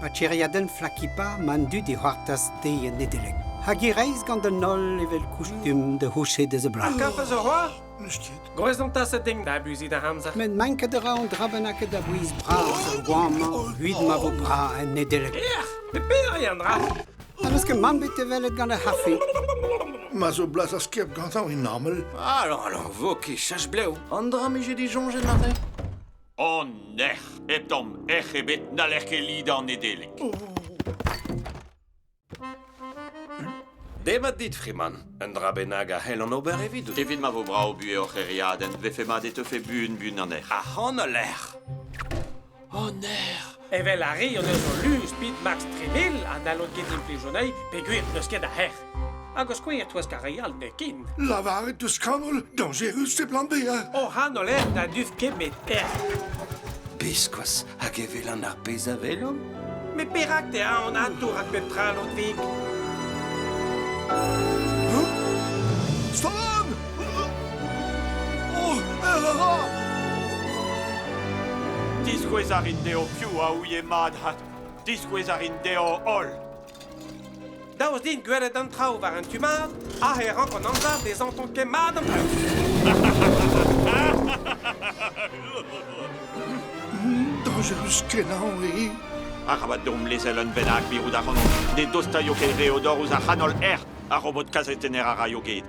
Pa tiriadenn Flakipa ma an dud e c'hoartaz te en Nedeleg. Hag e reiz gant an holl evel koustum da c'houchet eus a blas. Karfez a c'hoar? Gwrez an taset din da abuzit ar amzer. Met manket a ra an dra bennak da bouiz bras ar goamañ, evit ma vo bras en Nedeleg. Ec'h, pe peder an dra? Ha n'eus ket man bet e welet gant ar c'harfi. Ma zo blas ar skep gantañ e normel. Alon, alon, vo ket chach blev. An dra mije disoñjet aze? An nec'h, hep tamm ec'h ebet, n'haller ket lidañ Nedeleg. Demat dit, Freeman. Un dra bennak a c'hellan ober evidout. Evit ma vo brav buhez hor c'hêriadenn, vefe mat e teufe buan-buan an erc'h. Ac'han al lec'h! O nec'h! Evel ar re o deus o luz bit Max Treville ha n'hallont ket implijout anezhi peogwir n'eus ket a hec'h. Hag o skouer touesk ar re all nekin. Lavaret deus Kabul, dañjerus e plan bezañ. O c'han o lec'h na duf ket met ec'h. Biskoazh hag e welan ar pezh a welomp. Met perak te a an atour at pep tra lotik? Stop! Diskouez a rin dezho piv a ouie mat ha diskouez a rin dezho holl. Daoust din gwelet an traoù war an tu mat, aze e rank an amzer dezhañ ton ket mat an traoù. Danjerus-kenañ eo. Arabat deomp lezel un bennak mirout ac'hanomp. Ne dostaio ket re o dor ouzh ar c'hanol erc'h. Ar robot kazetenner a raio get.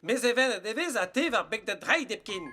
Mes evelet e vez ha te war beg da dreid hepken.